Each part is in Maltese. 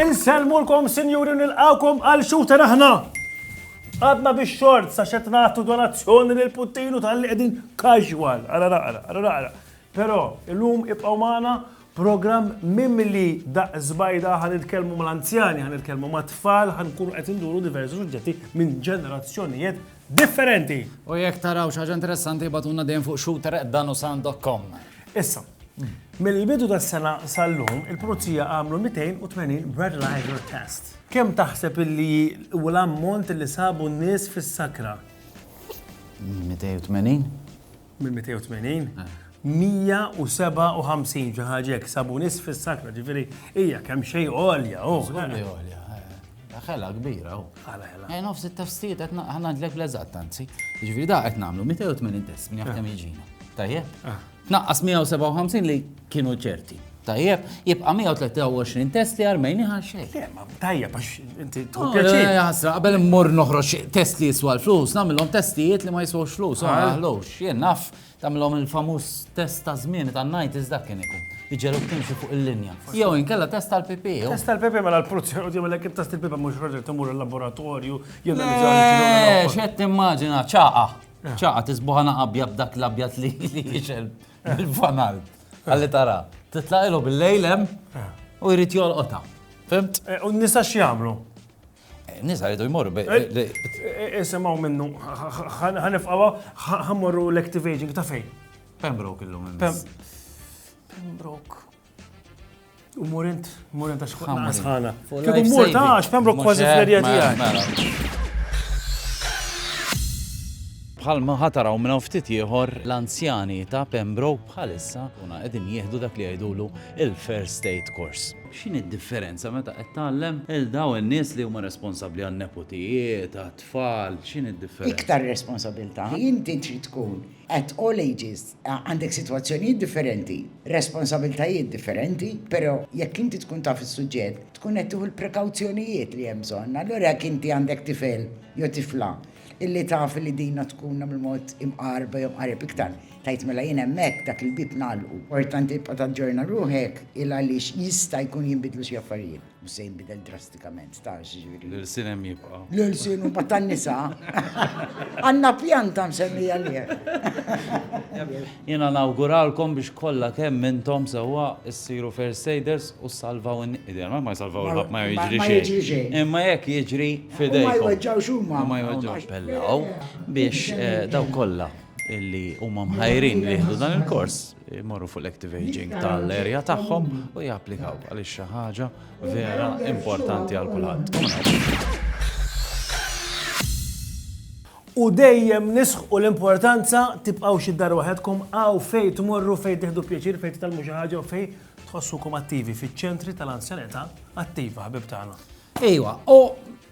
Insellmulkom sinjuri nilqawkom għal xuta aħna. Għadna biex xort sa xed nagħtu donazzjoni lil Puttinu tal-li qegħdin casual. Ara naqra, ara naqra. Però illum ibqgħu magħna Programm mimli daqq żbajda, ħa nitkellmu mal-anzjani, ħa nitkellmu mat-tfal, ħa nkunu qed induru diversi suġġetti minn ġenerazzjonijiet differenti. U jekk taraw xi ħaġa interessanti bagħtulna dejjem fuq shooter@danusan.com. Issa, mill-bidu tas-sena sal-lum, il-Pulizija għamlu 280 breathalyzer test. Kemm taħseb illi hu l-ammont li sabu n-nies fis-sakra? 280? Minn 280? 157 xi ħaġa hekk sabu nies fis-sakra, ġifieri hija kemm xejn għolja. Żgur li għolja. Ħela kbira u. Ħela ħela. Ejn nofs it-tafstijiet qed ngħidlek fl-eżatt anzi. Ġifieri da qed nagħmlu 280 test minn jaf kemm jiġina. Tajjeb? Tnaqqas 157 li kienu ċerti. Tajjeb, jibqa' 123 test li armejni għal xejn. Le, ma tajjeb għax inti tħu oh, pjaċir. Eh, ħasra, qabel immur noħroġ test li jiswa l-flus, nagħmilhom testijiet li ma jiswux flus, ma jaħlux. Ah. Jien naf tagħmilhom il-famuż test ta' żmien ta' ngħid iżda kien ikun. Iġelu timxi fuq il-linja. Jew inkella test tal-PP. Test tal-PP mela l-pulizzi u jagħmel hekk test tal-PP mhux raġel timur il-laboratorju jew eh, x'qed timmaġina ċaqa. Eh. ċaqa tisbuħana qabja b'dak l-abjad li jixel. Il-fanal. Għalli tara. Titlaqilhom bil-lejl hemm u jrid jolqotha. Fimt? Eh, u nisa x'jagħmlu? Eh, nisa jridu jmorru. Eh, Isimgħu minnu. Ħanifqawa ħammorru l-active aging ta' fejn? Pembroke illum. Pembroke. U murint, murint għax ħamra sħana. Kieku mur ta' għax Pembroke kważi fl-erja tiegħi. Bħal ma ħataraw minn ftit ieħor l-anzjani ta' Pembroke bħalissa kuna qegħdin jieħdu dak li jgħidulu il-First State Course. X'in id-differenza meta qed tgħallem il daw in-nies li huma responsabbli għan-nepotijiet, għat-tfal, x'in id-differenza? Iktar responsabilità. Inti trid tkun At all ages, għandek sitwazzjonijiet differenti, responsabiltajiet differenti, però jekk inti tkun taf is-suġġett, tkun qed tieħu l-prekawzjonijiet li hemm bżonn. Allura jekk inti għandek tifel jew tifla illi taf li din għad tkun hemm il-mod imqarrba jew mqarreb iktar, tgħid mela jien hemmhekk dak il-bieb ngħalqu. Importanti tibqa' taġġorna ruħek il-għaliex jista' jkun jinbidlu xi affarijiet. Mhux se jinbidel drastikament, tafx ġifieri. L-irsin hemm jibqa'. L-irsin huma tan-nisa. Għandna pjanta msemmija li Jiena nawguralkom biex kollha kemm intom sewwa ssiru first aiders u salvaw in-niedel. Ma jsalvaw il-ħadd ma jiġri xejn. Imma jekk jiġri fidejkom. Ma jweġġawx huma. Ma jweġġawx pellaw biex eh, daw kollha illi huma mħajrin li jieħdu dan il-kors. jmorru fuq l-active aging tal-erja tagħhom u japplikaw għaliex xi ħaġa vera importanti għal kulħadd. U dejjem nisħ u l-importanza tibqaw xi dar waħedkom għaw fej tmorru fej tiħdu pjaċir fej titalmu xi ħaġa u fej tħossukom attivi fiċ-ċentri tal-anzjanità attiva ħabib tagħna. Ejwa, u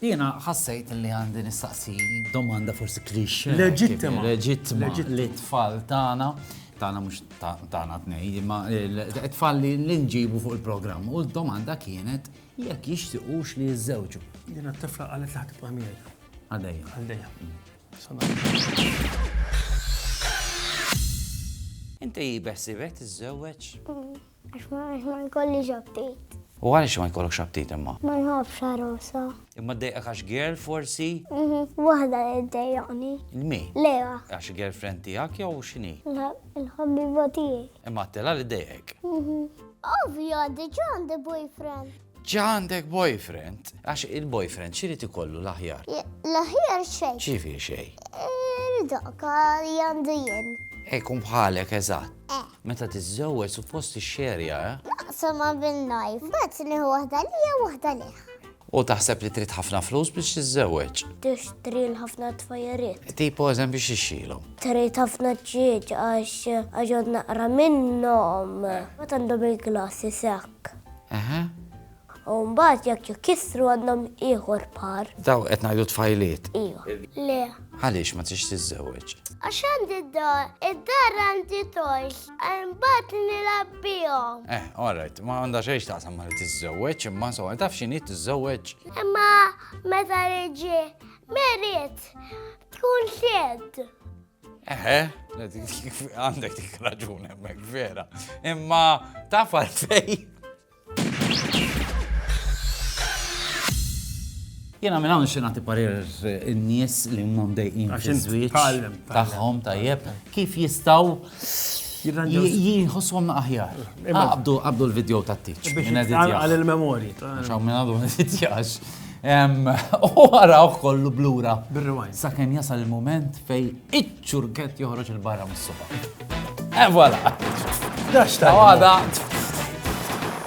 Jiena ħassejt li għandi nistaqsi domanda forsi cliché. Leġittima. Leġittima lit-tfal tagħna, tagħna mhux tagħna tnej, imma t-tfal li nġibu fuq il-programm. U d-domanda kienet jekk jixtiqux li jiżżewġu. Jiena t-tifla qalet li ħatibqa' miegħi. Għaldejja. Għaldejja. Inti beħsibek tiżżewweġ? Għax ma jkollix aptit. U għaliex ma jkollokx aptit imma? Ma nħobbx għarosa. Imma ddejqek għax girl forsi? Mhm, waħda li ddejjaqni. Lmi? Lewa. Għax girlfriend tiegħek jew x'inhi? Il-ħabbiba tiegħi. Imma għattela li ddejqek? Mhm. Ovvja, diġà għandi boyfriend. Ġa għandek boyfriend? Għax il-boyfriend x'irid ikollu l-aħjar? L-aħjar xejn. X'jifieri xejn? Dak li għandu jien. Ikun bħalek eżatt. Eh. Meta tiżżewweġ suppost tixxerja, eh? Naqsam ma' bin najf, mbagħad nieħu waħda lija u waħda lih. U taħseb li trid ħafna flus biex tiżżewweġ? Tixtri l-ħafna tfajjeriet. Tipo eżem biex ixxilhom. Trid ħafna ġieġ għax għax naqra minnhom. Ma tandhom il-glassi sekk. Dak. Eħe. U mbagħad jekk jkissru għandhom ieħor par. Daw qed ngħidu tfajliet. Iva. Le. Għaliex ma tix tiżżewweġ? Għax għandi d-dar, id-dar għandi toys, mbagħad nilgħab bihom. Eh, all right, ma għandha xejn taqsam ma li tiżżewweġ, imma so taf x'inhi tiżżewweġ. Imma meta riġi merit tkun xed. Eħe, għandek dik raġun hemmhekk vera. Imma taf għalfej. Jena minn hawn xi nagħti parir in-nies li huma mdejqin fiż-żwieġ tagħhom tajjeb kif jistgħu jħossom aħjar. Qabdu qabdu l-video tat-tiċ. Għal il-memori. Xaw minn għadu nitjax. U għaraw kollu blura. Bil-rewind. Sa' kem jasal il-moment fej iċ-ċurket joħroġ il-barra mis-suba. E voilà. Daċta. Għada.